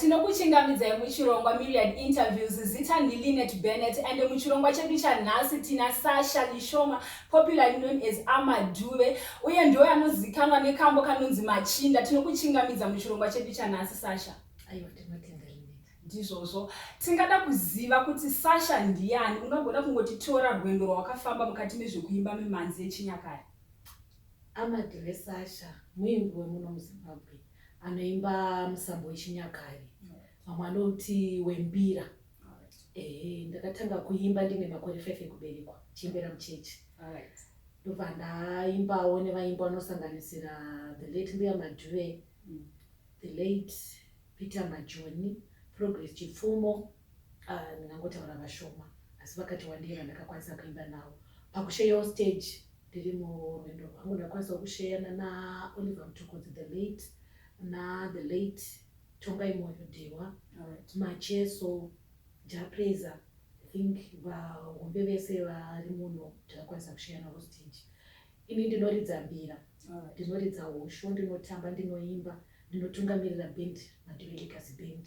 tinokuchingamidzai muchirongwa myriad interviews zita ndilinet bennet and muchirongwa chedu chanhasi tina sasha lishoma popularly known as amaduve uye ndo anozikanwa nekambo kanonzi machinda tinokuchingamidza muchirongwa chedu chanhasi sasha ndizvozvo tingada kuziva kuti sasha ndiyani ungagona kungoti tora rwendo rwawakafamba mukati mezvekuimba mimhanzi yechinyakare Amadre Sasha muimbi wemuno muZimbabwe anoimba musambo wechinyakare vamwe anouti wembira. Ehe, ndakatanga kuimba ndine makore five ekuberekwa chiimbira muchechi ndobva ndaimbawo nevaimbi vanosanganisira the late mbuya madhuve mm. the late peter majoni progress chipfumo Ah, ndingangotaura vashoma asi vakati wandei vandakakwanisa kuimba navo pakusheyawo stage ndiri murwendo rwangu ndakwanisawo kusheyana naoliver mutokodzi the late nathe late tongai moyo dhewa macheso japraiser i think vahombe vese vari muno ndakakwanisa kusheyanavo stage ini ndinoridza mbira ndinoridza hosho ndinotamba ndinoimba ndinotungamirira band madivelikasi band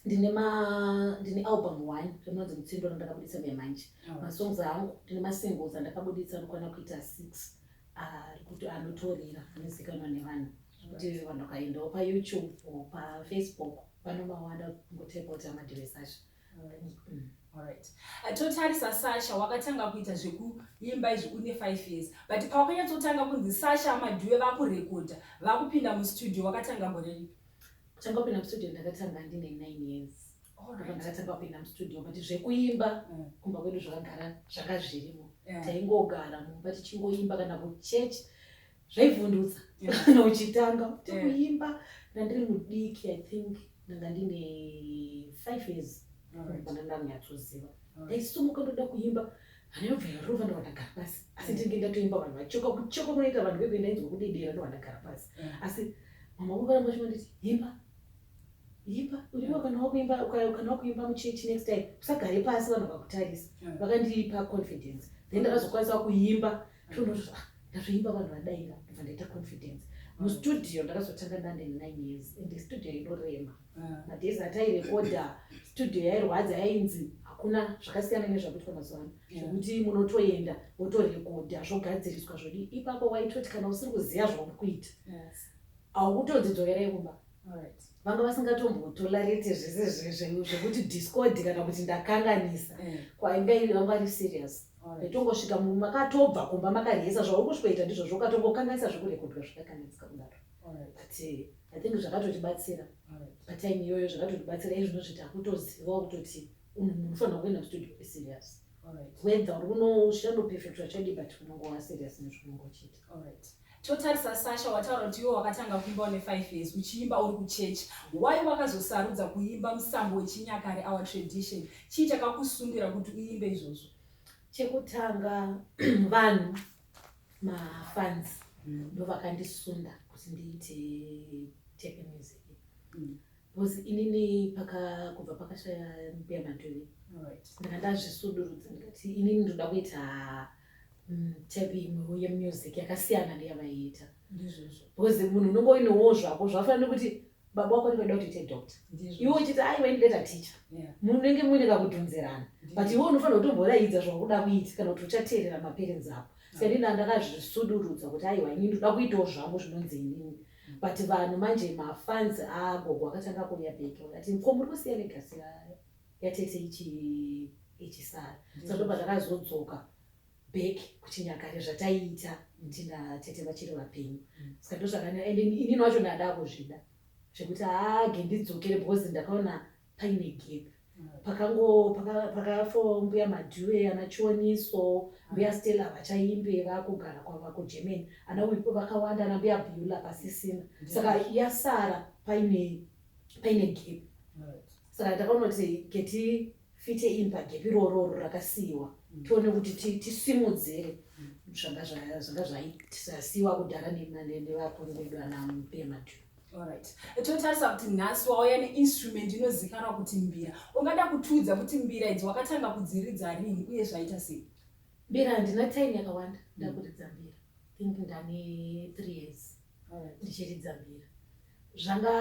ndine ma ndine album one remunonzi mutsindo randakabuditsa muya manje oh. masongs angu ndine masingles andakabuditsa anokwana kuita six ari kuti anotorira anozikanwa nevanhu kuti vanhu vakaendawo payoutube or pafacebook vanomawanda kungotepota madhiresi acho mm. Uh, totarisa sasha wakatanga kuita zvekuimba izvi une five years but pawakanyatsoutanga kunzi sasha madhuwe vakurekodha vakupinda mustudio wakatanga gore ripi Kutanga kupinda mustudio ndakatanga ndine nine years ndakatanga kupinda mustudio but zvekuimba mm. kumba kwedu zvakagara zvanga zvirimo taingogara mumba tichingoimba kana kuchurch zvaivhundutsa kana uchitanga kuti kuimba ndandiri mudiki i think ndanga ndine five years kana ndakunyatsoziva ndaisumuka ndoda kuimba anobva yarova ndovandagara pasi asi mm. ndinenge ndatoimba vanhu vachoka kuchoka kunoita vanhu vebe ndainzwa kudedera ndovandagara pasi mm. asi mama wangu varamba chimanditi imba imba uriwa kana wakuimba kana wakuimba muchechi next time usagare pasi vanhu vakakutarisa mm. vakandipa confidence then ndakazokwanisa kuimba tonoto ah, ndazvoimba vanhu vadaira ndobva ndaita confidence mustudio ndakazotanga ndane nine years and studio inorema madays atairekodha studio yairwadza yainzi hakuna zvakasiyana nezvakuitwa mazuva ano zvekuti munotoenda wotorekodha zvogadziriswa zvodi ipapo waitoti kana usiri kuziva zvauri kuita haukutodzidzokerai kumba vanga vasingatombotolarete zvese zvekuti discodi kana kuti ndakanganisa kwainga iri vanga vari serious ndotongosvika makatobva kumba makariesa zvauri kusvikoita ndizvozvo ukatongokanganisa zvekurekodhwa zvakakanganisika kudaro but eh, i think zvakatotibatsira patime iyoyo zvakatotibatsira izvino zviti akutoziva kutoti unofanira kuenda kustudio uri serious whether uri kunoshandopefectwa chadi but unongova serious nezvaunongochiita totarisa sasha wataura kuti iwe wakatanga kuimba une five years uchiimba uri kuchechi why wakazosarudza kuimba musambo wechinyakare our tradition chii chakakusundira kuti uimbe izvozvo chekutanga vanhu mafans mm. ndovakandisunda kuti ndiite teke music mm. bcause inini paka kubva pakashaya mbuya matovi ndanga ndazvisudurudza ndikati inini ndoda kuita mm, tepe imwewo yemusic yakasiyana neyavaiita bcause munhu unonge uinowo zvako zvafana nekuti baba wako ndivaida kuti ite doctor iwe uchiti aiwa ini data teacher munenge muine kakudhonzerana but iwe unofanira kutomboraidza zvakuda kuita kana kuti uchateerera maperenzi ako saka ndini andakazvisudurudza kuti aiwa ini ndoda kuitawo zvangu zvinonzi inini mm. but vanhu manje mafanzi agogo akatanga kuuya bheke vakati ko muri kusiya legasi yatete ichisara saka ndobva ndakazodzoka back kuchinyakare zvataiita nti natete vachiri vapenyu mm. ska ndozvakana and inini wacho ndada kuzvida zvekuti hage ndidzokere because ndakaona paine gap mm. pakango pakafo mbuya madhuwe ana chioniso mm. mbuya stella vachaimbe vakugara kwava kugermany ana wipo vakawanda ana mbuya bula pasisina saka yasara paine paine gap saka ndakaona kuti keti fite in pagepi rororo rakasiiwa mm. tione kuti tisimudzire mm. zvanga zvaitasiiwa kudhara nevakuru vedu ana mupema tu Alright. Totarisa kuti nhasi wauya neinstrument inozikanwa kuti mbira. Ungada kutiudza kuti mbira idzi wakatanga kudziridza rini uye zvaita sei? Mbira handina time yakawanda ndakuridza mbira. Think ndane three years. ndichiridza mbira zvanga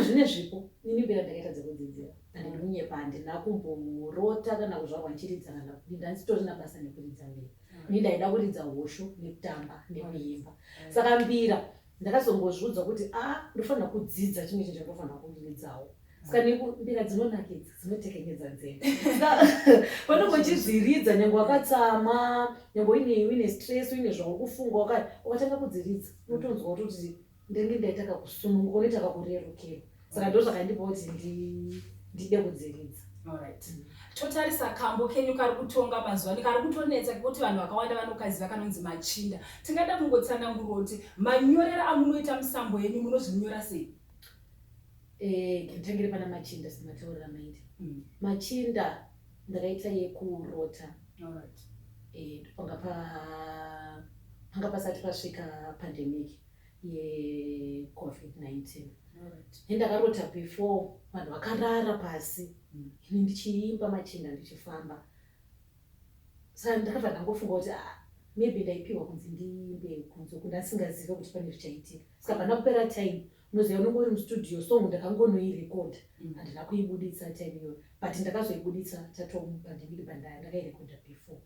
zvine zvipo nini mbira ndakaita dzekudzidzira andidi kunyepa handina kumborota kana kuzvarwa ndichiridza kana kudii ndanditori nabasa nekuridza mbira ini ndaida kuridza hosho nekutamba nekuimba saka mbira ndakazongozviudzwa kuti a ah, ndofanira kudzidza chimwe chinhu chandofanira kuridzawo ska neku mbira dzinonakidza dzinotekenyedza nzeve panenge uchidziridza nyange wakatsama nyange uine uine stress uine zvawakufunga wakati ukatanga kudziridza unotonzwa kutoti ndenge ndaita kakusununguka unoita kakurerukirwa saka ndo zvakandipa kuti ndide kudziridza Alright. totarisa kambo kenyu kari kutonga mazuva ano kari kutonetsa kekuti vanhu vakawanda vanokaziva kanonzi machinda tingada kungotsananguroti manyorero amunoita musambo yenyu munozvinyora sei Eh, nditangire pana machinda semataurira maiti mm. machinda ndakaita yekurota eh, panga pa panga pasati pasvika pandemic yecovid-19 e ndakarota before vanhu vakarara pasi mm. ini ndichiimba machinda ndichifamba sa ndakabva ndangofunga kuti ah, maybe ndaipiwa kunzi ndiimbe kunze kundasingazive kuti pane zvichaitika saka pana kupera time Muziva unenge uri mustudio song ndakangonoirekodha mm. handina kuibuditsa time iyoyo but ndakazoibuditsa tatombandimiri bandaya ndakairekodha before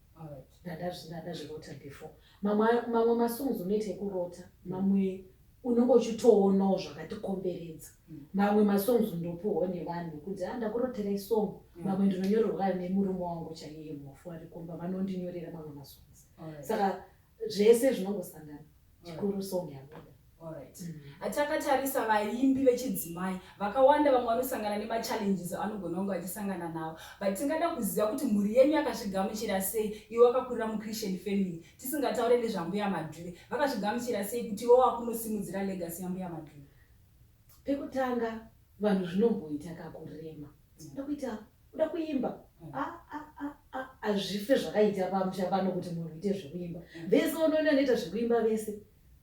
ndandazvirota before mamwe masongs unoita ekurota mm. mamwe unenge uchitoonawo zvakatikomberedza mm. mamwe masongs ndopiwo nevanhu kuti a ah, ndakurotera isong mamwe ndinonyorerwa nemurume wangu chaiye mhofu arikomba vanondinyorera mamwe masongs saka zvese zvinongosangana chikuru song yabuda hatakatarisa vaimbi vechidzimai vakawanda vamwe vanosangana nemachallenges anogona kunge vachisangana nawo but tingada kuziva kuti mhuri yenyu yakazvigamuchira sei iwe wakakurira muchristian family tisingataure nezvambuya madhuve vakazvigamuchira sei kuti iwo wakunosimudzira legacy yambuya madhuve Pekutanga vanhu zvinomboita kakurema uda kuita uda kuimba hazvife zvakaita pamusha pano kuti munhu uite zvekuimba vese unoona anoita zvekuimba vese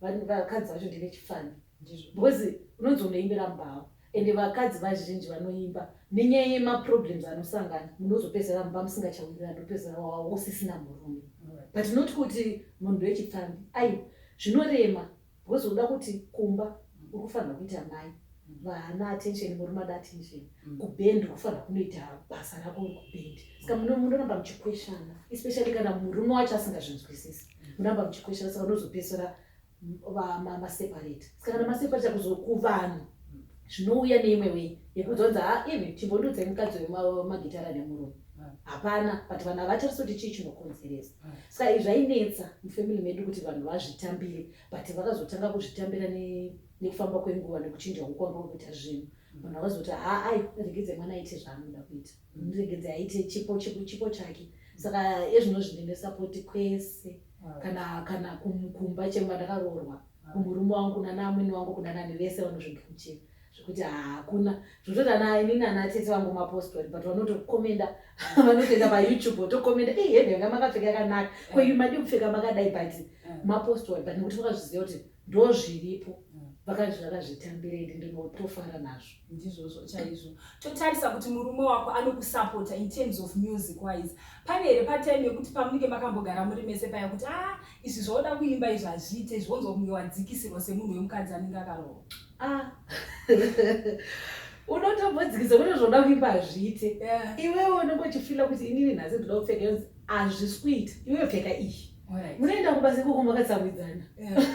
vakadzi vacho ndevechifani because unonzi unoimbira mbao ende vakadzi vazhinji vanoimba nenyaya yemaproblems anosangana munozopedzera mumba musingachawirira ndopedzera wausisina murume but not kuti munhu wechipfambi aiwa zvinorema Because unoda kuti kumba uri kufanirwa kuita mai vana attention murume ada attention mm. kubhend kufanira kunoita basa rako uri kubhend saka munoramba muchikweshana especially kana murume wacho asingazvinzwisisi mm. munoramba muchikweshana saka unozopesera maseparate saka kana maseparate kuzokuvanhu zvinouya neimwe way yekuzonzi ha even chimbondudzai mukadzi wemagitara nemurume hapana but vanhu havatarise kuti chii chinokonzeresa saka izvi zvainetsa mufamily medu kuti vanhu vazvitambire but vakazotanga kuzvitambira nekufamba kwenguva nekuchinja ukwanga wekuita zvinhu vanhu vakazoti haai regedze mwana aite zvaanoda kuita regedze aite chipo chipo chake saka ezvino zvinenesa poti kwese kana kana kumba chemba ndakaroorwa Murume wangu nana amwene wangu kuna nani vese vanozvigamuchira zvekuti hakuna zvototi ana ini nana tete vangu mapostori but vanotokomenda vanotoenda payoutube votokomenda e heve yanga makapfeka yakanaka ko yu madi kupfeka makadai but mm. mapostori but nekuti vakazviziva kuti ndozviripo mm. vakazvitambirei ndinotofara nazvo ndizvozvo chaizvo totarisa kuti murume wako anokusapota in terms of music wise pane here patime yekuti pamunenge makambogara muri mese paya kuti a ah, izvi zvaoda kuimba izvi hazviite izvi wonzwa kunge wadzikisirwa semunhu wemukadzi anenge akarowa ah. unotombodzikisa kuti zvoda kuimba hazviite iwewe unenge uchifila kuti inini nhasi ndoda kupfeka hazvisi kuita iwewe pfeka iyi munoenda kubasa ikoko makatsamwidzana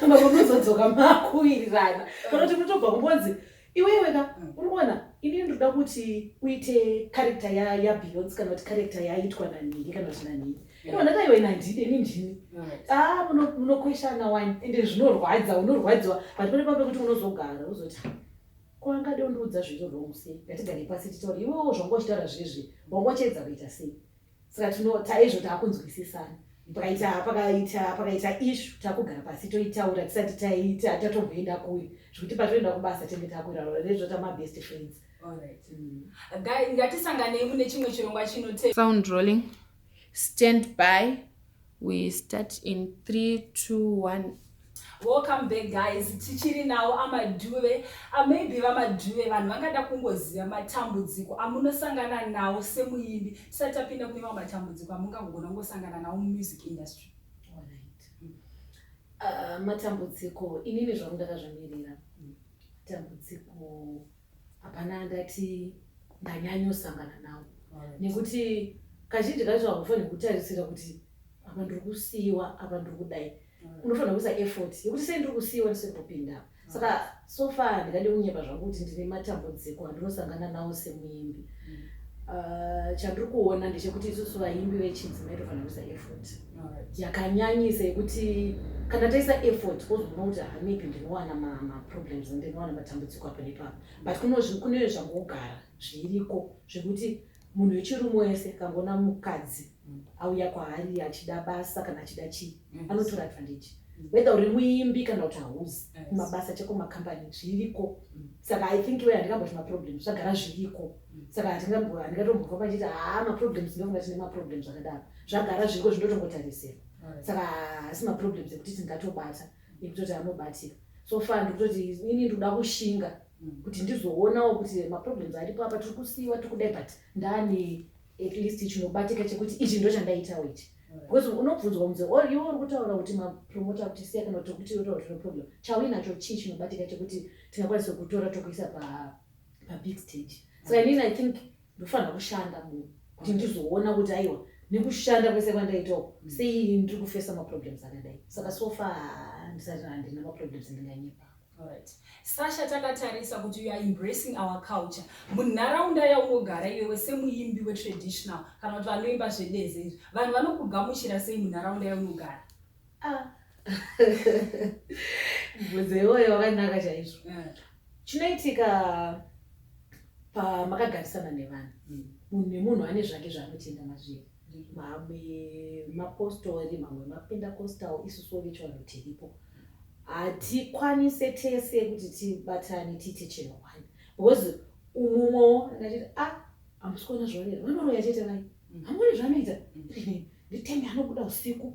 makonozodzoka makuwirirana kana kuti munotobva kumbonzi Iwe iwe ka uri kuona ini ndinoda kuti uite character ya ya Beyonce kana kuti character yaitwa na Nini kana kuti na Nini. Ino ndata iwe na Ndini ini ndini. Ah muno munokweshana wani ende zvinorwadza unorwadziwa but pane pamwe kuti unozogara uzoti ko angade undiudza zviri wrong sei ngatigare pasi titaure iwewo zvanga uchitaura zvezvi wanga uchiedza kuita sei saka tino taizvo taakunzwisisana pakaita pakaita pakaita ishu takugara pasi toitaura tisati taita tatomboenda kuyo zvekuti patoenda kubasa tenge takuirarora rezvota mabest friends mm. ngatisanganei mune chimwe chirongwa chinote sound rolling stand by We start in 3, 2, 1. Welcome back guys, tichiri nawo amadhuve. Ah, maybe vamadhuve vanhu vangada kungoziva matambudziko amunosangana nawo semuimbi. Tisati tapinda kune mamwe matambudziko amungagona kungosangana nawo mumusic industry. Ah, matambudziko inini zvangu ndakazvimirira. Dambudziko hapana andati ndanyanyosangana nawo nekuti kazhinji kacho hakufanirwi kutarisira kuti apa ndiri kusiiwa apa ndiri kudai mm. unofanira kuisa effort yekuti sei ndiri kusiiwa ndisiri kupinda mm. saka so far handingade kunyepa zvangu kuti ndine matambudziko andinosangana nawo semuimbi mm. ah, chandiri kuona ndechekuti isusu vaimbi vechidzimai tofanira kuisa effort yakanyanyisa yekuti kana taisa effort wozoona kuti ha maybe ndinowana maproblems ndinowana matambudziko apo nepapa but kune zvangogara zviriko zvekuti munhu wechirume wese kangoona mukadzi auya kwaari achida basa kana achida chii anotora advantage whether uri muimbi kana kuti hauzi kumabasa cheko macompany zviriko mm. saka i think iwe handingamboti maproblems zvagara zviriko mm. saka handingatomboka pachiti haa maproblems ndokunga tine maproblems akadaro zvagara zviriko zvinotongotarisirwa saka haasi maproblems ekuti tingatobata ekutoti anobatika so far ndikutoti ini ndikuda kushinga mm. kuti ndizoonawo kuti maproblems aripo apa tiri kusiiwa tiri kudai but ndani at least chinobatika chekuti ichi ndo chandaitawo ichi because unobvunzwa kunzi or iwe uri kutaura kuti mapromota kuti siya kana kuti kuti yotaura kuti noproblem chauinacho chii chinobatika chekuti tingakwanisa kutora tokuisa pabig stage saka inini i think ndofanira kushanda munhu kuti ndizoona kuti aiwa nekushanda kwese kwandaita uku mm. sei ndiri kufesa maproblems akadai saka sofa ndisati handina maproblems ndinganyepa Right. Sasha takatarisa kuti you are embracing our culture munharaunda yaunogara iwewe semuimbi wetraditional kana kuti vanoimba zvedeze izvi vanhu vanokugamuchira sei munharaunda yaunogara Ah. Mubvunzo iwoyo wakanaka chaizvo. Mm. Chinoitika pamakagarisana nevanhu mm. munhu nemunhu ane zvake zvaanotenda mazviri mm. mamwe mapostori mamwe mapendacostal isusu vechivanhu tiripo hatikwanise tese kuti tibatane tiite chinhu one because umumwewo akachiti a ah, hamusi kuona zvavanei vanoroya chete vai hamuri zvanoita nditenge anobuda usiku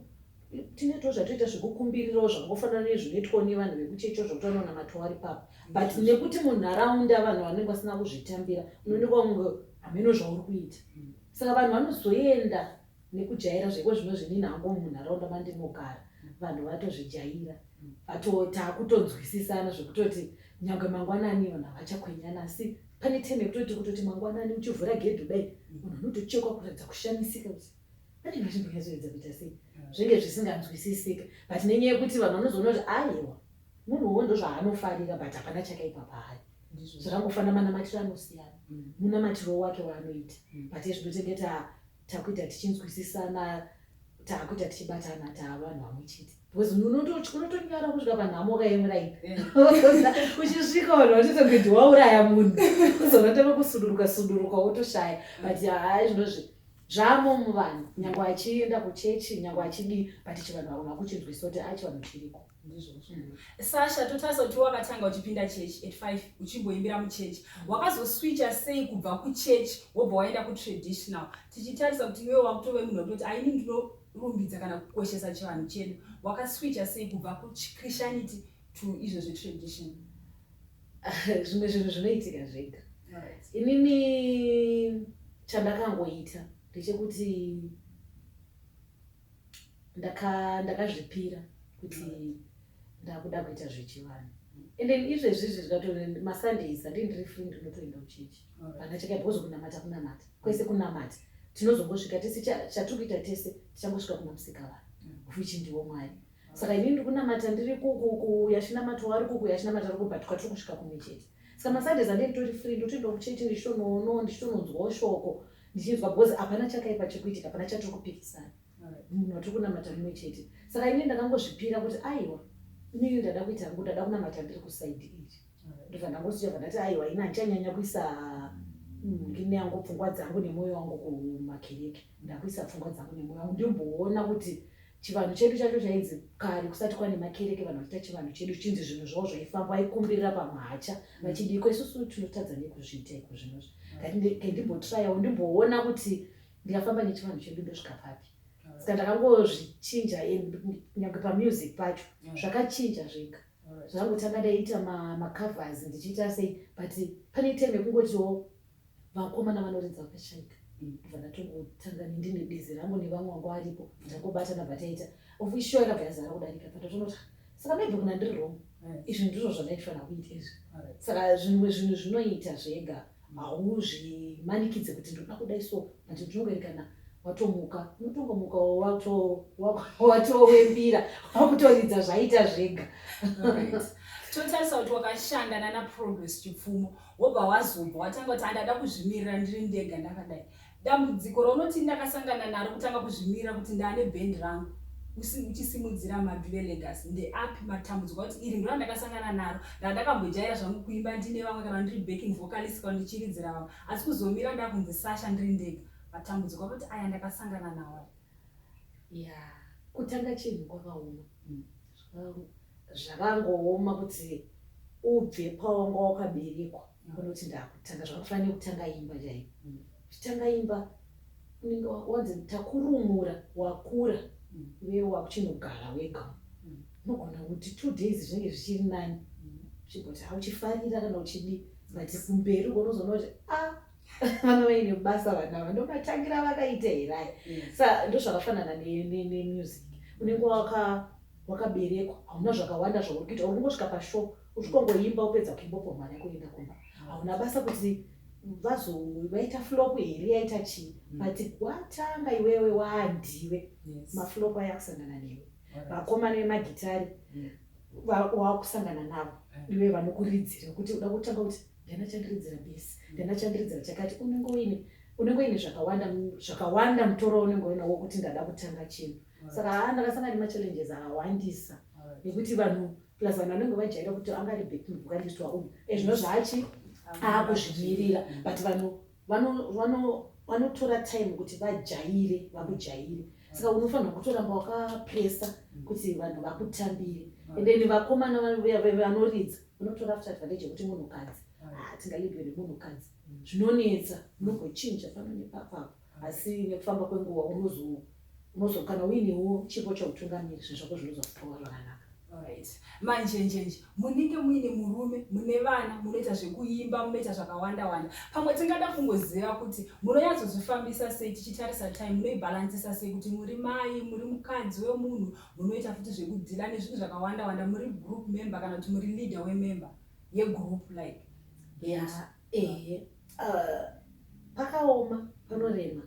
tinetwo zvatoita zvekukumbirirawo zvakangofanana nezvinoitwawo nevanhu vekuchecho zvokuti vanonamatawo ari papa but nekuti munharaunda vanhu vanenge vasina kuzvitambira unooneka kunge hameno zvauri kuita saka vanhu vanozoenda nekujaira zveko zvino zvinini hangu munharaunda mandinogara vanhu vatozvijaira vatotakutonzwisisana zvekutoti nyange mangwanani vanhu havachakwenyana asi pane time yekutoti kutoti mangwanani uchivhura gedhi kudai munhu anotochekwa kuratidza kushamisika kuti pane vachimboyazoedza kuita sei zvinge zvisinganzwisisika but nenyaya yekuti vanhu vanozoona kuti aiwa munhu wo ndozvaanofarira but hapana chakaipa paari zvakangofanira manamatiro anosiyana mm. munamatiro wake waanoita mm. but ezvinotengeta takuita tichinzwisisana takuita tichibatana taavanhu vamwe chete because unotonyara kusvika panhamo kaemuraini uchisvika vanhu vachita kuti wauraya munhu uzonatanga kusuduruka suduruka wotoshaya but haa zvinozvi zvamo muvanhu nyange achienda kuchechi nyange achidii but chivanhu vakona kuchinzwisa kuti achivanhu chiriko sasha totarisa kuti wakatanga uchipinda church at five uchimboimbira muchurch wakazoswicha sei kubva kuchurch wobva waenda kutraditional tichitarisa kuti iwewe wakutove munhu wekutoti aini ndinorumbidza kana kukoshesa chivanhu chedu wakaswicha sei kubva kuchristianity to izvo zvetradition zvimwe zvinhu zvinoitika zvega inini chandakangoita ndechekuti right. ndakazvipira kuti ndakuda kuita zvechivanhu and then izvezvi izvi zvikatone masundays andii ndiri free ndinotoenda kuchechi vana cheka because kunamata kunamata kwese kunamata tinozongosvika tese chatiri kuita tese tichangosvika kuna musika vanhu mm. which ndiwo mwari saka ini ndikunamata ndiri kuyachinamata wari kuku yachinamata ari kubatwa tiri kusvika kumichete saka masundays andii nditori free ndotoenda kuchechi ndichitonono ndichitononzwawo shoko ndichinzwa because hapana chakaipa chikuitika hapana chatiri kupikisana munhu watiri kunamata mumwe chete saka ini ndakangozvipira kuti aiwa inini ndada kuita hangu ndada kunamata ndiri kusaidi iri ndobva ndangosichava ndati aiwa ini handichanyanya kuisa mm, ngine yangu pfungwa dzangu nemwoyo wangu kumakereke ndakuisa pfungwa dzangu nemwoyo wangu ndimboona kuti Chivanhu chedu chacho chainzi kare kusati kwane makereke vanhu vachiita chivanhu chedu chinzi zvinhu zvavo zvaifamba vaikumbirira pamwacha mm. vachidiko isusu tinotadza nekuzviita iko zvinozvi mm. kendimbotrayawo ndimboona kuti ndikafamba nechivanhu chedu ndosvika papi mm. saka ndakangozvichinja nyange pamusic pacho zvakachinja zvega zvangotanga ndaita macovers ndichiita sei but pane time yekungotiwo vakomana vanoridza vakashaika bva ndatongotanga ndine bizi rangu nevamwe wangu aripo bvatangobatana bvataita ofisho yakabva yazara kudarika bvatatonota saka maybe kuna ndiri wrong eh. izvi ndizvo zvandaifanira kuita izvi saka zvimwe zvinhu zvinoita zvega hauzvimanikidze kuti ndinoda kudai so but ndinongoerekana watomuka unotongomuka watowembira wakutoridza zvaita zvega totarisa kuti wakashanda nana progress chipfumo wobva wazobva watanga kuti handada kuzvimirira ndiri ndega ndakadai dambudziko raunoti ndakasangana naro kutanga kuzvimirira kuti ndaane bhendi rangu uchisimudzira maduve legacy ndeapi matambudziko kuti iri ndora ndakasangana naro randakambojaira zvangu kuimba ndine vamwe kana ndiri backing vocalist kana ndichiridzira vamwe asi kuzomira ndakunzi sasha ndiri ndega matambudziko akuti aya ndakasangana nawo ya kutanga chinhu kwakaoma mm. zvakangooma kuti ubve pawanga wakaberekwa unoti ndakutanga zvakafanira kutanga imba chaiyo uchitanga imba unenge wanzi takurumura wakura uye wakuchinogara wega unogona kuti two days zvinenge zvichiri nani uchigoti hauchifarira kana uchidii but kumberi ugonozoona kuti a ah, vana vaine basa vana ava ndomatangira vakaita here aya mm. sa ndozvakafanana nemusic unenge wakaberekwa hauna zvakawanda zvauri kuita uri kungosvika pashow usvikongoimba upedza kuimbopa mwana kuenda kumba hauna basa kuti vazo vaita flop here yaita chii mm. but watanga iwewe waandiwe maflop aya kusangana newe vakomana vemagitari mm. waakusangana navo iwe vanokuridzira kuti uda kutanga kuti ndanachandiridzira base ndanachandiridzira chakati unenge uine unenge uine zvakawanda zvakawanda mutoro unenge uina wokuti ndada kutanga chinhu saka haa ndakasanga nemachallenges awandisa nekuti vanhu plus vanhu vanenge vajaira kuti anga ari backing vocalist waumwe ezvino zvaachi aakuzvimirira but vanhu vano vano vanotora time kuti vajaire vakujaire saka unofanirwa kutoramba wakapresa kuti vanhu vakutambire and then vakomana vanoridza vanotora after advantage yekuti munhukadzi ah, tingalidwe nemunhukadzi zvinonetsa unogochinja pano nepapapo asi nekufamba kwenguva unozo Unozo kana uinewo chipo chautungamiri zvinhu zvako zvinozo famba zvakanaka. Alright. Manje nje nje munenge muine murume mune vana munoita zvekuimba munoita zvakawanda wanda pamwe tingada kungoziva kuti munonyatsozvifambisa sei tichitarisa time munoibalansisa sei kuti muri mai muri mukadzi wemunhu munoita futi zvekudhila nezvinhu zvakawanda wanda muri group member kana kuti muri leader wemember yegroup like yeah. Ehe uh, pakaoma panorema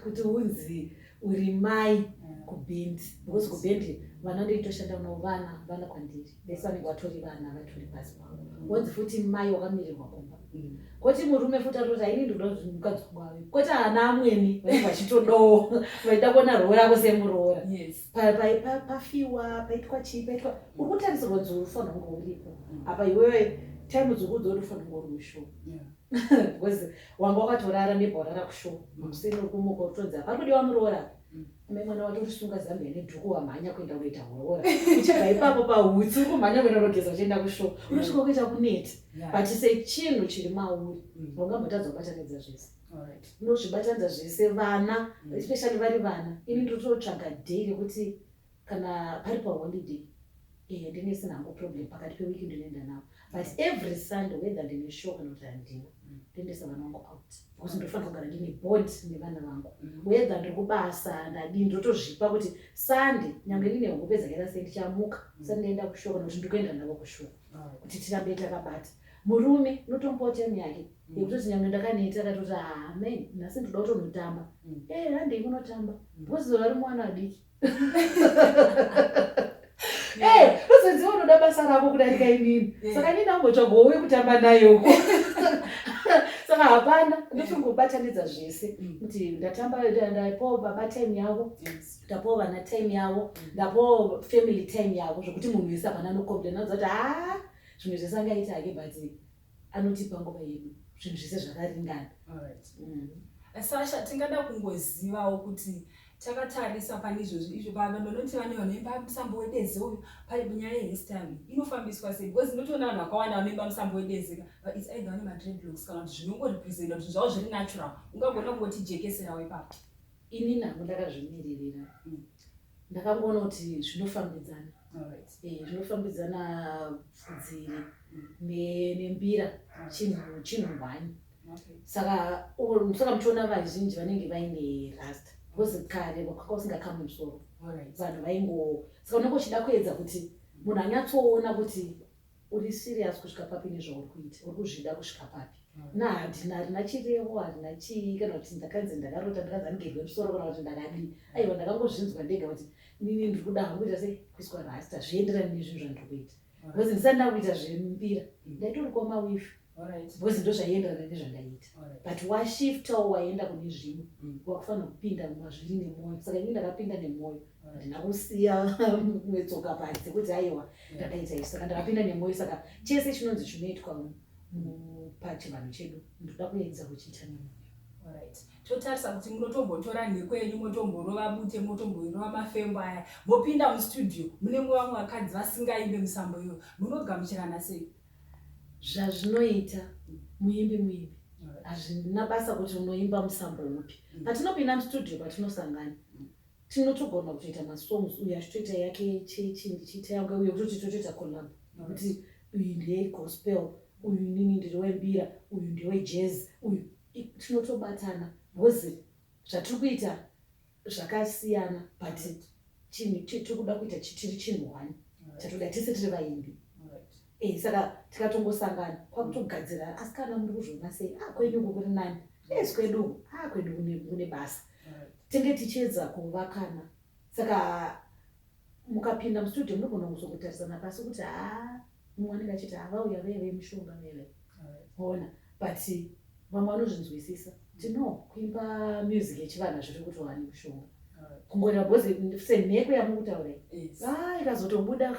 kuti unzi uri mai mm. kubhendi because kubhendi vana ndeitoshanda navo vana vana kwandiri vese vanenge vatori vana vatori pasi pangu wonzi mm. futi mai wakamirirwa kumba mm. koti murume futi atoti aini ndinoda kuti mukadzi wangu ave koti ana amweni vanenge vachitodawo vaida kuona roora avo semuroora pafiwa paitwa chii paitwa uri kutarisirwa dzuri ufanira kunge uripo apa iwewe time dzuri kudzo uri ufanira kunge uri mushow because wanga wakatorara nebva warara kushow musini uri kumuka utozi apa kudiwa muroora ame mwana wacho urisunga zambia nedhuku wamhanya kuenda kunoita horoora uchibva ipapo pahutsi uri kumhanya kuenda kunogeza uchienda kushow unosvika kuita kuneti but sechinhu chiri mauri mm. ungambotadzo kubatanidza zvese ndozvibatanidza zvese vana mm. especially vari vana ini ndototsvaga day rekuti kana pari paholiday eh, ndine sina hangu problem pakati pewiki ndinoenda navo but every sunday whether ndine show kana kuti handina mm. ndoendesa vana vangu out because ndofanira kugara ndine bond nevana vangu mm. whether ndiri kubasa ndadii ndotozvipa kuti sunday nyange ndine hope dzakaita sei ndichamuka sa ndinoenda kushow kana kuti ndikuenda navo kushow kuti tirambe takabata murume notombotemyake yekutoti nyangwe ndakaneta akatoti haa me nhasi ndoda kutonotamba mm. e eh, handei kunotamba mm. because vari mwana adiki ee eh, uzoziva unoda basa rako kudarika inini eh. saka nini ambotsvagawo wekutamba nayoko saka hapana ndotongobatanidza zvese mm. kuti ndatamba ndapawo baba time yavo ndapawo vana time yavo ndapawo family time yavo zvekuti munhu wese hapana anokomplena uza kuti haa zvimwe zvese angaita hake but anotipa nguva yedu zvinhu zvese zvakaringana mm. sasha tingada kungozivawo kuti takatarisa pane izvozvi izvo vanhu vanoti vane vanoimba musambo wedeze uyu pari nyaya yehistory inofambiswa sei because inotoona vanhu vakawanda vanoimba musambo wedeze but its either vane madredlocks kana kuti zvinongorepresenta kuti zvavo zviri natural ungagona kungotijekeserawo ipapo ini nangu ndakazvimiririra mm. ndakangoona kuti zvinofambidzana eh, zvinofambidzana pfudziri nembira chinhu hwani saka saka muchiona vazhinji vanenge vaine rasta because kare kwaka usingakamwe musoro vanhu vaingo saka unenge uchida kuedza kuti munhu anyatsoona kuti Uri serious kusvika papi nezvauri kuita? Uri kuzvida kusvika papi? Na handina harina chirevo harina chii kana kuti ndakanzi ndakarota ndakanzi andigerwe musoro kana kuti ndakadii. Aiwa ndakangozvinzwa ndega kuti nini ndiri kuda hangu kuita sei kuiswa rasta zvienderani nezvinhu zvandiri kuita. Because ndisati ndakuita zvembira ndaitori kwamawifi. Alright. because ndozvaienderana nezvandaiita Alright. but washiftawo waenda kune zvimwe Mm. wakufanira kupinda mazviri nemwoyo saka ini ndakapinda nemwoyo Alright. handina kusiya metsoka padzi kuti aiwa ndakaita izvi saka ndakapinda nemwoyo saka chese chinonzi chinoitwa mu- mu- pachivanhu chedu ndoda kuedza kuchiita nemwoyo Alright. totarisa kuti munotombotora nhiko yenyu motomborova bute motomborova mafembo aya mopinda mustudio munenge vamwe vakadzi vasingaimbe musambo iyoyo munogamuchirana sei zvazvinoita muimbi muimbi hazvina basa kuti unoimba musambo upi mm. patinopinda mustudio patinosangana mm. tinotogona kutoita masongs uyo achitoita yake chechi ndichiita yange uyo kutoti totoita collab nokuti uyu ndeyegospel uyu nini ndiri wembira uyu ndewejazz uyu tinotobatana bcause zvatiri kuita zvakasiyana but chinhu tiri kuda kuita chitiri chinhu one chatoda tese tiri vaimbi eh, saka tikatongosangana kwakutogadzira asi kana muri kuzviona sei a ah, kwenyu uku kuri nani es eh, kwedu a ah, kwedu kune basa tenge tichiedza kuvakana saka mukapinda mustudio munogona kuzokotarisana pasi kuti haa mumwe anenge achiti havauya vee vemishonga veve ona but vamwe vanozvinzwisisa tino kuimba music yechivana zviri kuti wani kushonga kungoreva bhozi semheko yamukutaura a ah, ikazotobuda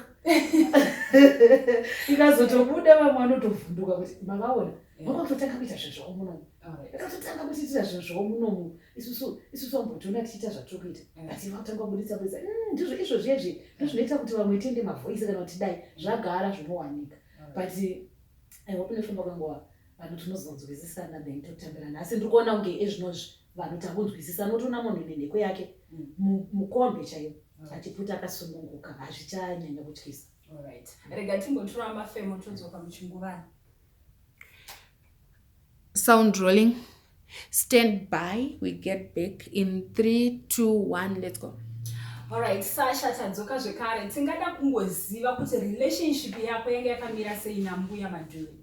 ikazotobuda vamwe vanotovhunduka kuti mavaona vanga kutotanga kuita zvezvavo munomu ikatotanga kutiitira zvezvavo munomu isusu isusu ambotiona tichiita zvatiri kuita mm. asi vakutanga kubuditsa buditsa mm, ndizvo izvo zvezvi ndozvinoita kuti vamwe tende mavoisi kana kuti dai zvagara zvinowanika mm. but aihope nefamba kwenguva vanhu tinozonzwisisana then totambirana asi ndiri kuona kunge ezvinozvi vanhu takunzwisisa notoona munhu nenheko yake mukombe chaiyo achiputa akasununguka hazvichanyanya kutyisa rega timbotura mafemo todzoka muchinguvana sound rolling stand by we get back in 3 2 1 let's go Alright, Sasha tadzoka zvekare tingada kungoziva kuti relationship yako yanga yakamira sei nambuya madhuve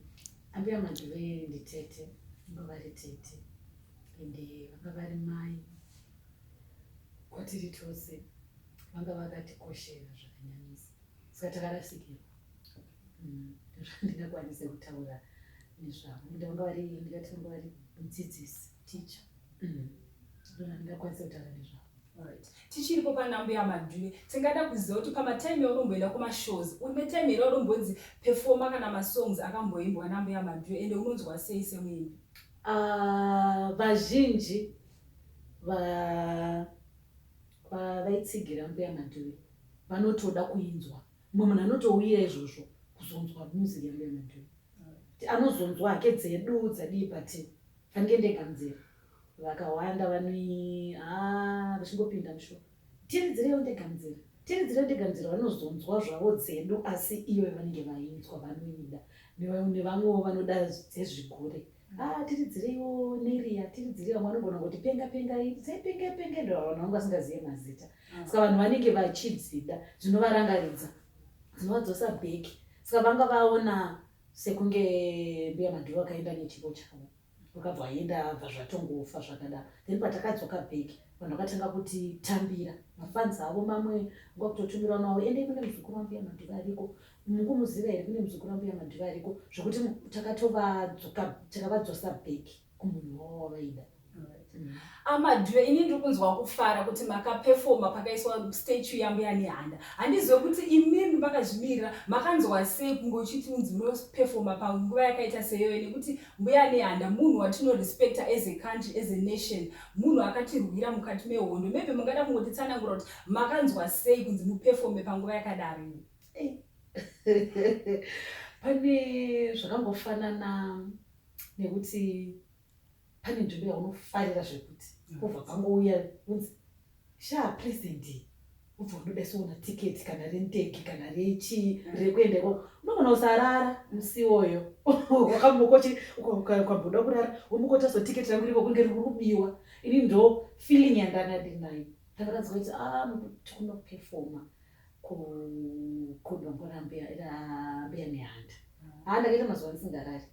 ambuya madhuve nditete vanga vari tete ende vanga vari mai kwatiri tose vanga vakatikoshera zvakanyanyisa saka takarasikirwa mm, ndingakwanise kutaura nezvavo ndanga vari ndikatanga vari mudzidzisi ticha mm. ndona ndingakwanise kutaura nezvavo tichiripo panambo yamadhule tingada kuziva kuti pamatime auromboenda kumashows une time here urombonzi pefoma kana masongs akamboimbwa nambo yamadhule ende unonzwa sei semuimbi ah, vazhinji vaitsigira mbuya madhule vanotoda kuinzwa Mumwe munhu anotouya izvozvo kuzonzwa music yangu yamadhiri. Kuti anozonzwa hake dzedu dzadii but fanike ndega muzere. Vakawanda vanoi haa vachingopinda musho. Tiridzirewo ndega muzere. Tiridzirewo ndega muzere vanozonzwa zvavo dzedu asi ivo vanenge vainzwa vanoida. Nevamwewo vanoda dzezvigure. Ah, tiridzireiwo neriya tiridzirei vamwe vanogona kuti penga penga sei penge penge ndo vanhu vangu vasingazive mazita ah. saka vanhu vanenge vachidzida zvinovarangaridza dzinovadzosa bheki saka vanga vaona sekunge mbuya madhuru akaenda nechipo chavo vakabva vaenda bva zvatongofa zvakadaro then patakadzoka bheki vanhu vakatanga kuti tambira mafanzi avo mamwe nguva kutotumirwa navo endei kune muzukuru wambuya madhuru ariko Mukumuziva here kune muzukuru ambuya Madhuve ariko zvekuti takatovadzoka takavadzosa back kumunhu wavo wavaida. Mm. amadhuve ini ndiri kunzwa kufara kuti makapefoma pakaiswa statue yambuya nehanda handizive kuti imimi makazvimirira makanzwa sei kunge uchiti unzi munopefoma panguva yakaita seyoyo nekuti mbuya nehanda munhu watinorespecta as a country as a nation munhu akatirwira mukati mehondo maybe mungada kungotitsanangura kuti makanzwa sei kunzi mupefome panguva yakadaro pane zvakangofanana nekuti pane nzvimbo yaunofarira zvekuti kubva pangouya kunzi shaa president ubva unodaisoona tiketi kana renteki kana rechi mm. rekuenda ikoko unogona usarara musi iwoyo wakambokochi ukamboda kurara womukotaso tiketi rangu riko kunge riri kubiwa ini ndo feeling yandanga ndinayo ndakaratidza kuti a ah, tikunoperfoma ku kudongora mbuya ira mbuya nehanda haa ndakaita mazuva ndisingarari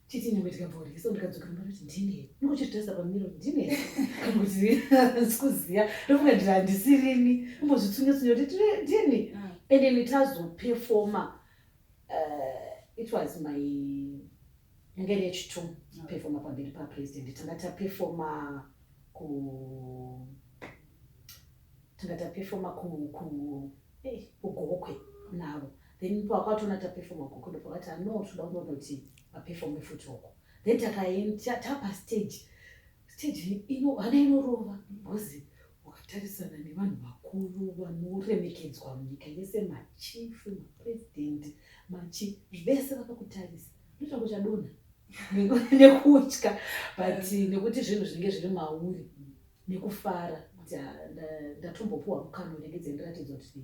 titi nyangwe ndikabvaurike so ndikadzoka mumba kuti ndine ndokuchitarisa pamiro ndine kana kuti sikuziva ndofunga ndiri handisirini umbozvitsunyatsunya kuti ndini and then tazopefoma uh, it was my yanga iri yechitumu pefoma pamberi papresident tanga tapefoma ku tanga tapefoma ku ku eh, kugokwe navo then pakwatona tapefoma gokwe ndopakati ano toda kundonoti vapefome futi uko then takaenda tapa stage stage ino hana inorova because wakatarisana nevanhu vakuru vanoremekedzwa munyika yese machief mapresident machi vese vakakutarisa ndoita kuti chadonha nekutya but nekuti zvinhu zvinenge zviri mauri nekufara kuti ah, ndatombopuwa mukana unengedze ndiratidze kuti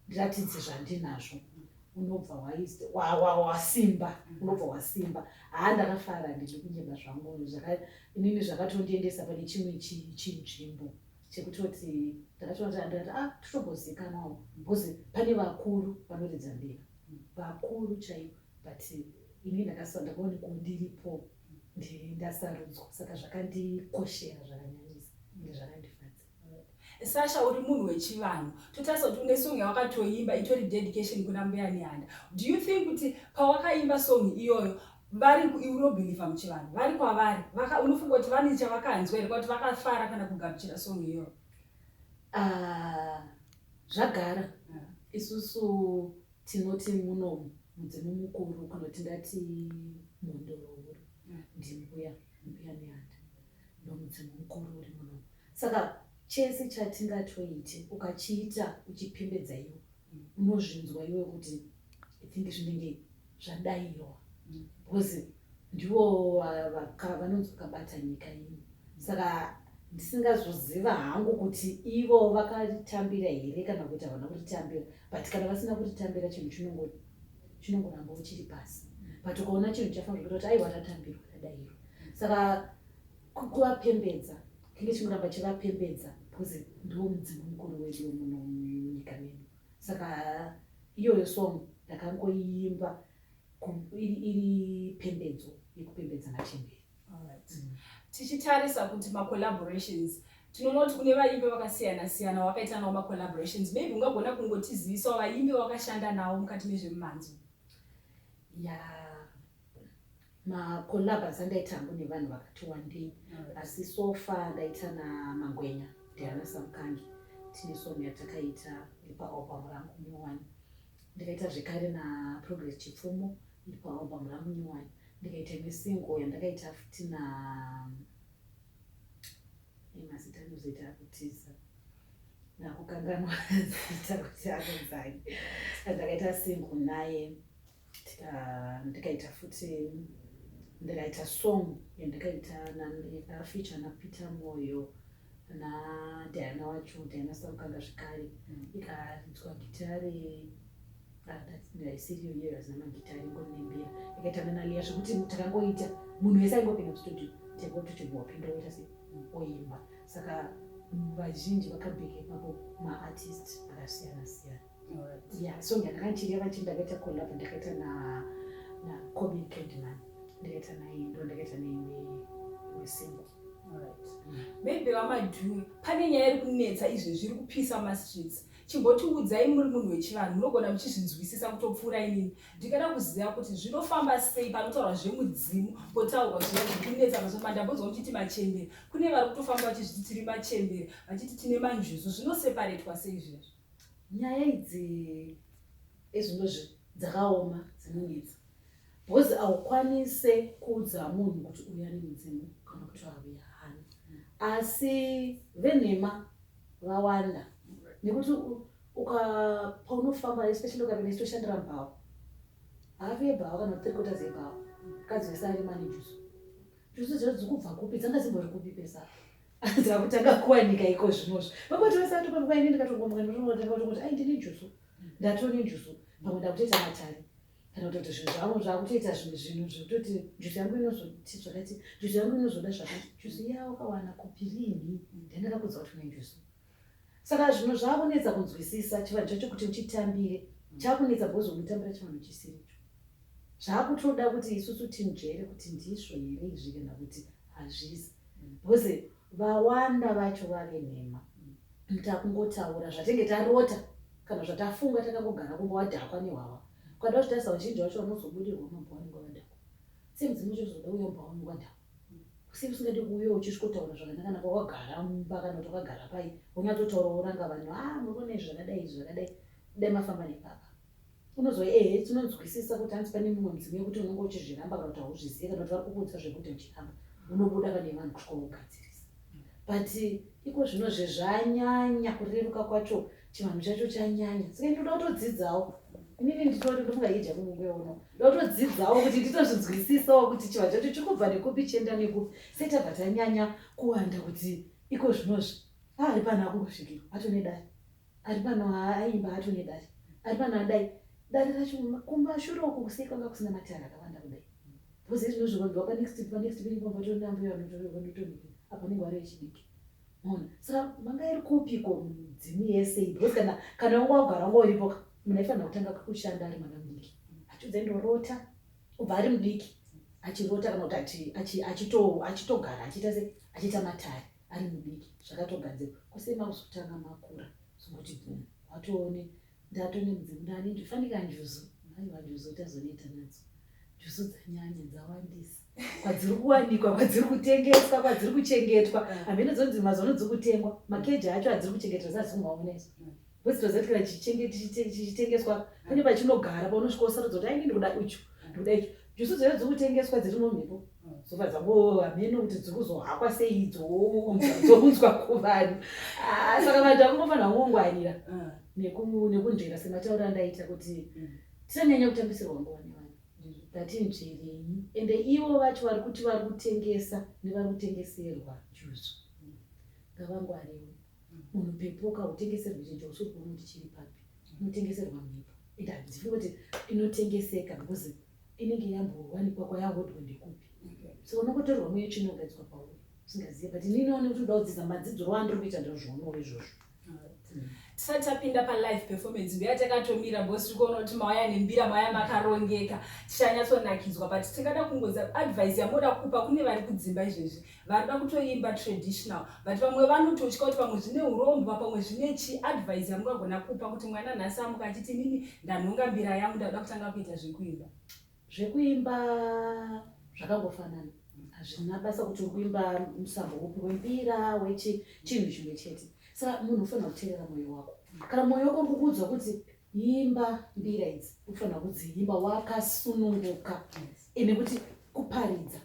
ndiratidze zvandinazvo unobva wasimba unobva wasimba haa ndakafara ndiri kunyeba zvangu inini zvakatondiendesa pane chimwe chinzvimbo chekutoti ndakatoona kuti andati a ah, totogozikanawo bcause pane vakuru vanoridza mbira vakuru chaivo but ini ndakasandakuonekundiripo ndini ndasarudzwa saka zvakandikoshera zvakanyanyisa ende zvakandifadza sasha uri munhu wechivanhu totarisa kuti une song yawakatoimba itori dedication kuna mbuya nehanda do you think kuti pawakaimba song iyoyo vari unobhilivha muchivanhu vari kwavari unofunga kuti vane chavakanzwa here kwakuti vakafara kana kugamuchira song iyoyo ah, zvagara ah. isusu Tinoti muno mudzimu mukuru kana kuti ndati mhondoro huru mm. ndimbuya mbuya neanda ndomudzimu mukuru uri muno saka chese chatingatoiti ukachiita uchipembedza iwo mm. unozvinzwa iwe kuti i think zvinenge zvadaiwa mm. because Ndivo vaka vanonzi vakabata nyika ino saka ndisingazoziva hangu kuti ivo vakaritambira here kana kuti havana kuritambira but kana vasina kuritambira chinhu chinongo chinongoramba uchiri pasi but ukaona chinhu chafanira kuita kuti aiwa tatambirwa tadairo saka ku- kuvapembedza kinge chingoramba chivapembedza because ndiwo mudzimu mukuru wedu wemuno munyika medu saka iyoyo song ndakangoiimba iri pembedzo yekupembedza matemberi mm. tichitarisa kuti macollaborations tinonoti kune vaimbi vakasiyana siyana wakaita nawo macollaborations maybe ungagona kungotizivisawo vaimbi wakashanda nawo mukati mezvemumhanzi ya macollabas andaita hangu nevanhu vakati wandei asi sofa ndaita namangwenya ndiana samukangi tine song yatakaita ipaopamu rangu newani ndikaita zvekare naprogress chipfumo iri paalbum rangu new one ndikaita imwe single yandakaita futi na mazita anozoita akutiza nakukanganwa zita kuti anonzai ndakaita single naye ndikaita futi ndikaita song yandikaita yakafeature napeter moyo nadhiana wacho dhiana saukanda zvekare mm. ikaridzwa gitare ndaisiriyo iyoyo hazina magitare ingonembira ikaita nanaliya zvekuti takangoita munhu wese aingopinda mustudio tekutochibva wapinda woita se mm. oimba saka vazhinji vakabheke ipapo maartist akasiyana siyana Yeah, so ndakachireva chii ndakaita collab ndakaita na na Kobe Kedman ndakaita naye ndo ndakaita neimwe imwe single maybe vamadhuwe pane nyaya iri kunetsa izvi zviri kupisa mumastreets chimbotiudzai muri munhu wechivanhu munogona muchizvinzwisisa kutopfuura inini ndikada kuziva kuti zvinofamba sei panotaurwa zvemudzimu potaurwa zviya zvikunetsa mazoma ndambonzwa muchiti machembere kune vari kutofamba vachizviti tiri machembere vachiti tine manjuzu zvinoseparetwa sei zvezvo Nyaya idzi ezvinozvi dzakaoma dzinonetsa bhozi aukwanise kuudza munhu kuti uya nemudzimu kana kuti auya hana asi venhema vawanda nekuti ukapaunofamba especially ukapinda chitoshandira mbhawa havi yebhawa kana kuti trikota dzebhawa mukadzi wese ari mane jusu jusu dziro dzikubva kupi dzanga dzimbori kupi pesa Anzira kuti akakuwanika iko zvinozvo. Baba kuti vese atopa nguva ine ndikatongomukana ndotongotanga kuti ai ndine njuzu. Ndatone njuzu. Pamwe ndakutoita matare. Kana kutoti zvinhu zvangu zvakutoita zvimwe zvinhu zvekutoti njuzu yangu inozoti zvakati, njuzu yangu inozoda zvakati. Njuzu iya wakawana kupi rini? Ndandakakuudza kuti une njuzu. Saka zvinhu zvakunetsa kunzwisisa chivanhu chacho kuti uchitambire mm. chakunetsa because unotambira chivanhu chisiricho. Zvakutoda kuti isusu tinzvere kuti ndizvo here izvi kana kuti hazvisi. Mm. Because vawanda vacho vave nhema. Mm. Takungotaura zvatenge tarota kana zvatafunga takangogara kumba wadhakwa nehwahwa. Ukada kuzvitarisa vazhinji vacho vanozobudirwa mabhuwa nekuwadhakwa. Same dzimwe zvozoda uyo mbawa nekuwadhakwa. Kusi kusingadi kuuya uchisvikotaura zvakanaka naka wakagara mumba kana kuti wakagara pai unyatotaura woranga vanhu a ah, murume izvi zvakadai izvi zvakadai dai mafamba nepapa unozova ehe tinonzwisisa kuti hanzi pane mumwe mudzimu yekuti unenge uchizviramba kana kuti hauzvizive kana kuti vari kukuudza zvekuti uchiramba unobuda pane vanhu kusvika wogadzirisa but iko zvino zvezvanyanya kureruka kwacho chivanhu chacho chanyanya saka ndinoda kutodzidzawo inini nditori ndingaidya kungueono ndotodzidzawo kuti nditozvinzwisisawo kuti chivanhu chacho chiri kubva nekupi chienda nekupi sei tabva tanyanya kuwanda kuti iko zvinozvi aari pano akungosvikira atone dai ari pano aimba atone dai ari pano adai dare racho kumashure uko kusei kwanga kusina matare akawanda kudai bhozi zvinozvivanhu vapanext panext peimbombatonambuya vanotorevanotoni apo anenge vari vechidiki Mona, saka manga iri kupiko midzimu yese iyi? Because kana kana wanga wagara wanga uripo ka munhu aifanira kutanga kushanda ari mwana mudiki achiudza indorota kubva ari mudiki achirota kana kuti ati- achi- achito- achitogara achiita se achiita matare ari mudiki zvakatogadzirwa kwese makuzotanga makura zvokuti bvum watoone Ndato nemudzi mundani ndifanika njuzu mai vanjuzu tazoneta nadzo njuzu dzanyanya dzawandisa kwadziri kuwanikwa kwadziri kutengeswa kwadziri kuchengetwa hameno dzonzi mazono dziri kutengwa makeji acho adziri kuchengetwa sazikumwaona izo bcause tozatikira chichitengeswa pane pachinogara paunosvika usarudza kuti ainge ndikuda icho ndikuda icho Jusu dzaive dziri kutengeswa dziri mumhepo dzobva dzango hameno kuti dziri kuzohakwa sei dzobunzwa kuvani ah, saka vanhu vakungofanira kungongwarira ah. nekunzvera sematauro andaita kuti mm. tisanyanya kutambisirwa nguva nevanhu ngatinzverei ende ivo vacho vari kuti vari kutengesa nevari kutengeserwa juzu ngavangwariwe munhu pepuka utengeserwe chinhu chausi kuona kuti chiri papi unotengeserwa mhepo and handifi kuti inotengeseka because inenge yambowanikwa kwayahodwa ndekupi so unokotorwa mweyo tsvina ugadzikwa pauri usingazive but ini inoone kuti unoda kudzidza madzidziro andiri kuita ndozvoonawo izvozvo tisati tapinda palive performance mbiya takatomira bcause tiri kuona kuti mauya nembira mauya makarongeka tichanyatsonakizwa but tingada kungoza advice yamoda kupa kune vari kudzimba izvezvi Varikuda kutoimba traditional but vamwe vanototya kuti pamwe zvine urombwa pamwe zvine chi advise yamungagona kupa kuti mwana nhasi amuka achiti inini ndanhonga mbira yangu ndakuda kutanga kuita zvekuimba. Zvekuimba zvakangofanana hazvina basa kuti urikuimba musambo upi wembira wechi chinhu chimwe chete sa munhu ufanira kuteerera mwoyo wako kana mwoyo wako urikukuudza kuti imba mbira idzi ufanira kudziimba wakasununguka ende kuti kuparidza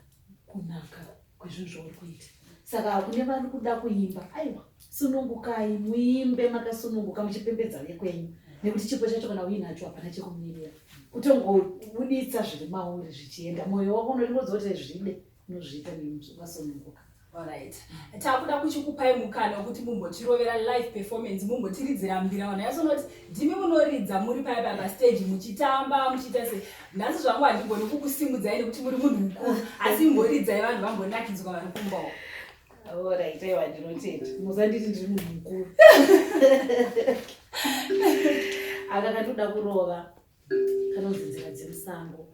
kunaka kwezvinhu zvauri kuita saka kune vari kuda kuimba aiwa sunungukai muimbe makasununguka muchipembedza vekwenyu nekuti chipo chacho kana uinacho hapana chekumirira kutongobuditsa zviri mauri zvichienda mwoyo wako unoringodzoti zvide unozviita neukasununguka Alright. Takuda kuchikupai mukana wekuti mumbotirovera live performance mumbotiridzira mbira vanhu yasonoti ndimi munoridza muri paya paya pastage muchitamba muchiita se nhasi zvangu handigoni kukusimudzai nekuti muri munhu mukuru asi imboridzai vanhu vambonakidzwa vari kumbawo orit aiwa ndinotenda musanditi ndiri munhu mukuru aka katoda kurova kanonzi nzira dzemusango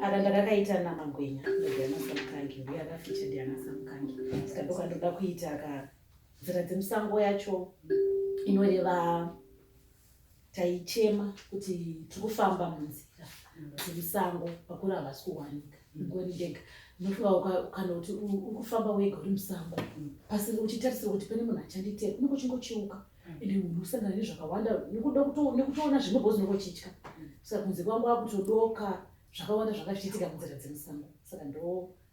aka ndakakaita namagwenya ndoganasa mukangi uye akafeatured anasa mukangi saka ndokatoda kuita aka Nzira dzemusango yacho inoreva taichema kuti tiri kufamba munzira dzemusango vakuru havasi kuwanika ngori ndega unofunga kana kuti uri kufamba wega uri musango pasi uchitarisira kuti pane munhu achanditera unenge uchingocheuka ende munhu usangana nezvakawanda nekuda nekutoona zvimwe bhozi unenge uchitya saka kunze kwangu akutodoka zvakawanda zvakachiitika munzira dzemusango saka ndo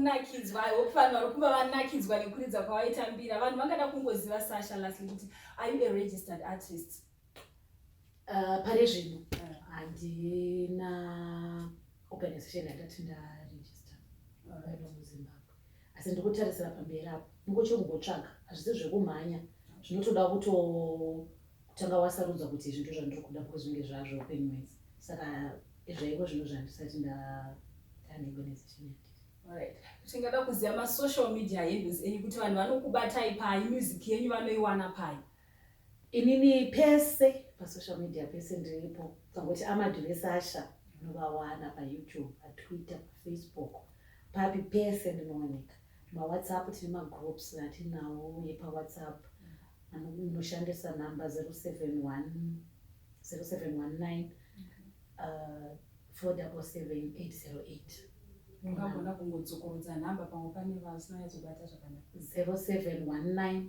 kunakidzwa i hope vanhu vari kuva vanakidzwa nekuridza kwavaitambira vanhu vangada kungoziva sasha lastly kuti are you a registered artist Uh, pari zvino handina organization yandati ndaregister vaiva muzimbabwe asi ndiri kutarisira pamberi apo ndingochongotsvaga hazvisi zvekumhanya zvinotoda kutotanga wasarudza kuti izvi ndo zvandiri kuda because zvinge zvazvo upenyu wese saka zvaiko zvino zvandisati ndaneorganization yake tingada kuziva masocial media handles enyu kuti vanhu vanokubatai pai music yenyu vanoiwana pai Inini pese pasocial media pese ndiripo kangoti amadhure sasha ndinovawana payoutube patwitter pafacebook papi pese ndinooneka mawhatsapp tine magroups atinawo epawhatsapp anoshandisa namba 071 0719 uh, 477808 ungagona kungodzokorodza nhamba pamwe pane vasina yatsubata zvakanaka 0719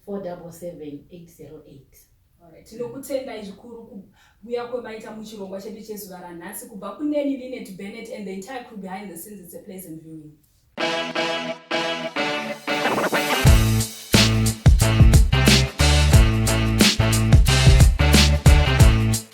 4778 Alright. Tinokutendai zvikuru kuuya kwemaita muchirongwa chedu chezuva ranhasi kubva kuneni Linet Bennett and the entire crew behind the scenes it's a pleasant viewing. Thank you.